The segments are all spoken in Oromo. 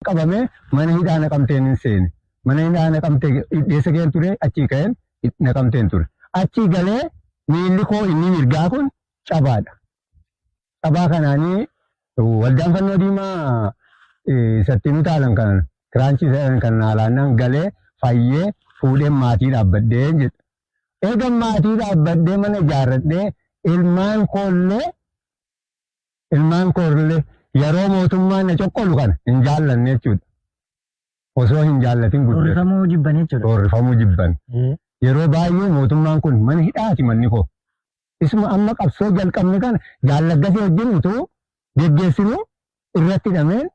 qabame mana hidhaa naqamteen hin seene mana hidhaa naqamte dhidheessa keen ture achii ka'een naqamteen ture achii galee miilli koo inni mirgaa kun cabaadha cabaa kanaanii waldaan fannoo diimaa isatti nu taalan kan kiraanchii seeran kan naalaannaan galee fayyee fuudheen maatii dhaabbadhee jedha eegan maatii dhaabbadhee mana ijaarradhee ilmaan koollee Ilmaan koornillee yeroo mootummaan na coqqolu kana hin jaallanne jechuudha. Osoo hin jaallatin guddatu. Roorrifamuu jibban jechuudha. Roorrifamuu jibban. Yeroo baay'ee mootummaan kun mana hidhaati manni koo. Isuma amma qabsoo jalqabne kana jaallaggasee wajjin utuu geggeessinuu irratti hidhameen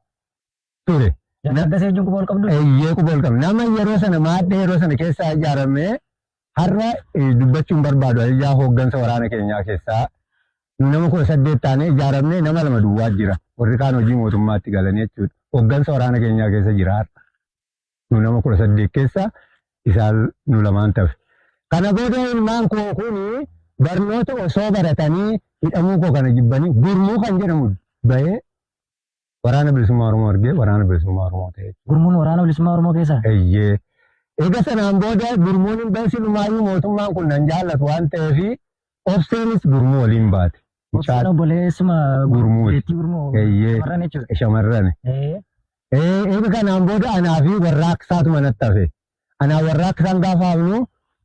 ture. Jaallaggasee wajjin quba ol qabdu? Eeyyee quba ol qabna. Nama yeroo sana maadhee yeroo sana keessaa ijaaramee Har'a eh, dubbachuun barbaadu ani ijaa hooggansa waraana keenyaa keessaa nu nama kudha saddeet taanee ijaaramnee nama lama duwwaa jira. Warri kaan hojii mootummaatti galanii jechuudha. Hooggansa waraana keenyaa keessa jira har'a. Nu nama kudha saddeet keessa isaan nu lamaan tafe. Kana booda ilmaan koo kuni barnoota osoo baratanii hidhamuu koo kana jibbanii gurmuu kan jedhamu bahee Waraana Bilisummaa Oromoo argee Waraana Bilisummaa Oromoo ta'e. Gurmuun Waraana Bilisummaa Oromoo keessaa? Eyyee. Eega sanaan booda gurmuun hin bahe silumaayyuu mootummaan kun nan jaallatu waan ta'eef obseenis gurmuu waliin baate. Obseen obboleessuma gurmuu. Beettii gurmuu. Eyyee. Shamarran jechuudha. Shamarran. Eega kanaan booda anaa fi warraaqsaatu manatti hafe. Anaa warraaqsaan gaafa hafnu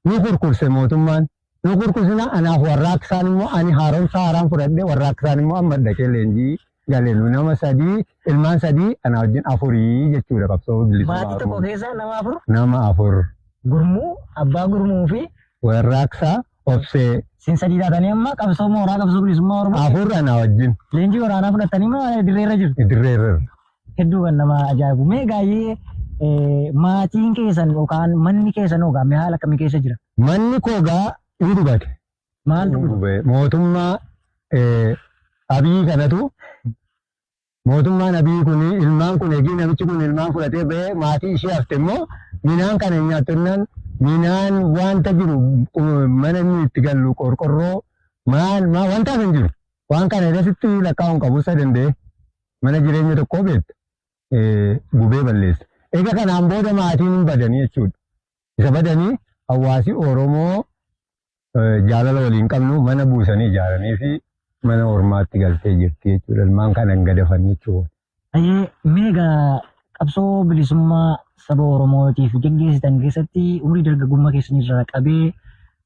nu kurkurse mootummaan. Nu kurkusina anaaf warraaqsaan immoo ani haaromsa haaraan fudhadhe warraaqsaan immoo amma dhaqee leenjii gale nu nama sadii ilmaan sadii anaa wajjin afurii jechuudha qabsoo bilisummaa Maatii tokko Oromoo. keessaa nama afur Nama afur gurmuu abbaa gurmuu fi warraaqsaa obsee sin sadii taatanii amma qabsoo mooraa qabsoo bilisummaa Oromoo afur anaa wajjin leenjii waraanaa fudhattanii moo dirreerra jirtu? dirreerra. Hedduu kan nama ajaa'ibu. Mee gaayee eh, maatiin keessan yookaan manni keessan hoo gaamee haala akkamii keessa jira? Manni koo gaa hin gubate. Maal Hin gube? Mootummaa eh, abiyyii kanatu mootummaan abiyyii kun ilmaan kun eegii namichi kun ilmaan fudhatee ba'ee maatii ishee hafte immoo minaan kana hin nyaattu jennaan minaan wanta jiru qu- mana inni itti gallu qorqorroo maal maal wanta hin jiru. Waan kana irratti lakkaa'uun qabu isa danda'e. mana jireenya tokkoo beekta gubee balleessa. Egaa kanaan booda maatiin hin badanii jechuudha. Isa badanii hawaasi Oromoo jaalala waliin qabnu mana buusanii ijaaranii fi mana ormaatti galtee jirti jechuudha. Ilmaan kana hin gadafan jechuudha. Ayyee meega qabsoo bilisummaa saba Oromootiif geggeessitan keessatti umrii dargaggummaa keessanii irraa qabee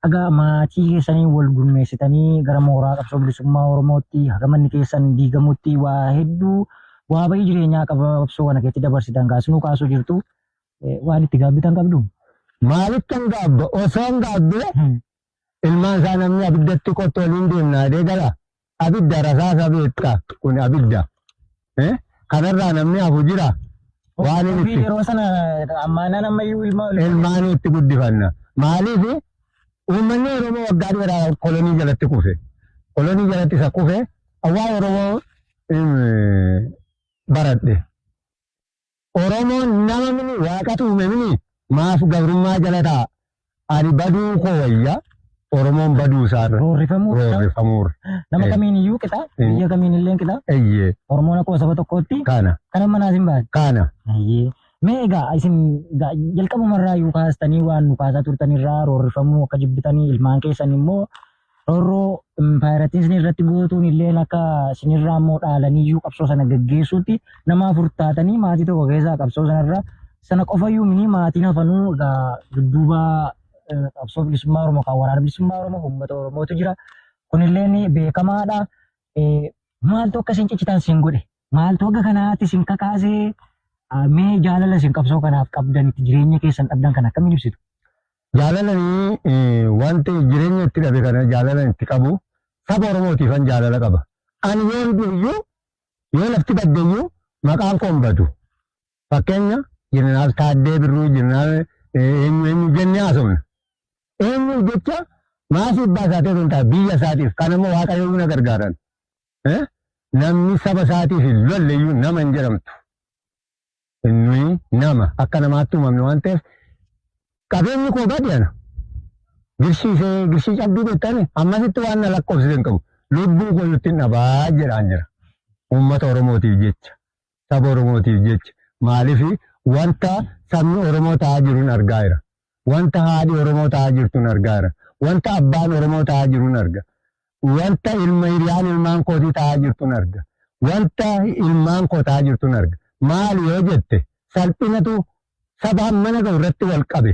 Haga maatii keessanii wal gurmeessitanii gara mooraa qabsoo bilisummaa Oromootti haga manni keessan diigamutti waa hedduu waa bayii jireenyaa qaba qabsoo kana keessatti dabarsitan kaasinuu kaasuu jirtu waan itti gaabbitan qabdu. Maalittan gaabba osoon gaabbe ilmaan isaa namni abiddatti qottu waliin deemna adee gala Abidda rasaasa beekta kun abidda. Eh? Kanarraa namni hafu jira. Waan inni Ofii itti yeroo sana ammaanaan ammayyuu ilma ol ilmaanii itti guddifanna. Maaliif uummanni Oromoo waggaa dheeraa kolonii jalatti kufe. Kolonii jalatti isa kufe awwaa Oromoo eh, baradhe. Oromoon nama mini waaqatu uume mini maaf gabrummaa jala taa ani baduu koo wayya Oromoon baduu isaa irra Roorrifamuu qixa. roorrifamuu irra. Nama Eh. kamiin iyyuu qixa. Eh. Biyya kamiin illee qixa. Eyyee Oromoon akkuma saba tokkootti kana kana manaas hin baane. kana Ayyee. Mee egaa isin egaa jalqabumarraa iyyuu kaastanii waan nu kaasaa turtanirraa roorrifamuu akka jibbitanii ilmaan keessan immoo Rorroo impaayerattiisni irratti gootuun illeen akka sinirraa immoo dhaalaniyyuu qabsoo sana gaggeessuutti nama afur taatanii maatii tokko keessaa qabsoo sanarra sana qofayyuu mini maatiin hafanuu egaa dudduuba eh, qabsoo bilisummaa Oromoo kan waraana bilisummaa Oromoo uummata Oromootu jira. Kunilleen beekamaadha. Eh, Maaltu akka isin ciccitan isin godhe? Maaltu akka kanaatti isin kakaasee ah, mee jaalala isin qabsoo kanaaf qabdan itti jireenya keessan dhabdan kan akkamiin ibsitu? Jaalalanii wanti jireenya itti dhabe kana jaalalan itti qabu saba Oromootiifan jaalala qaba. Ani yoon du'eyyuu yoo lafti baddeyyuu maqaan koo hin badu. Fakkeenya Jeneraal Taaddee Birruu Jeneraal eenyu eenyu jennee haasofna. Eenyu jecha maasii abbaa isaatiif osoo hin taane biyya isaatiif kan ammoo waaqayyoon na gargaaran. Namni saba isaatiif hin lolleyyuu nama hin jedhamtu. Nuyi nama, akka namaatti uumamne waan ta'eef qabeenyi koo bade ana. Girshii ishee girshii cabduu beektani ammasitti waan na lakkoofsise hin qabu. Lubbuu koo iyyutti hin dhabaa jedhaan jira. Uummata Oromootiif jecha, saba Oromootiif jecha maaliif wanta sabni Oromoo ta'aa jiruun argaa jira. Wanta haadhi Oromoo ta'aa jirtun argaara. Wanta abbaan Oromoo ta'aa jirun arga. Wanta ilma hiriyaan ilmaan kootii ta'aa jirtun arga. Wanta ilmaan koo ta'aa jirtun arga. Maali yoo jette salphinatu saba hammana ga'u irratti wal qabe.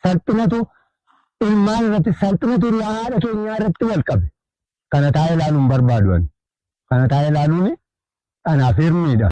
Salphinatu ilmaan irratti salphinatu hiriyaa haadha keenyaa irratti wal qabe. Kana taa'ee ilaaluu hin barbaadu ani. Kana taa'ee ilaaluun anaaf hirmiidha.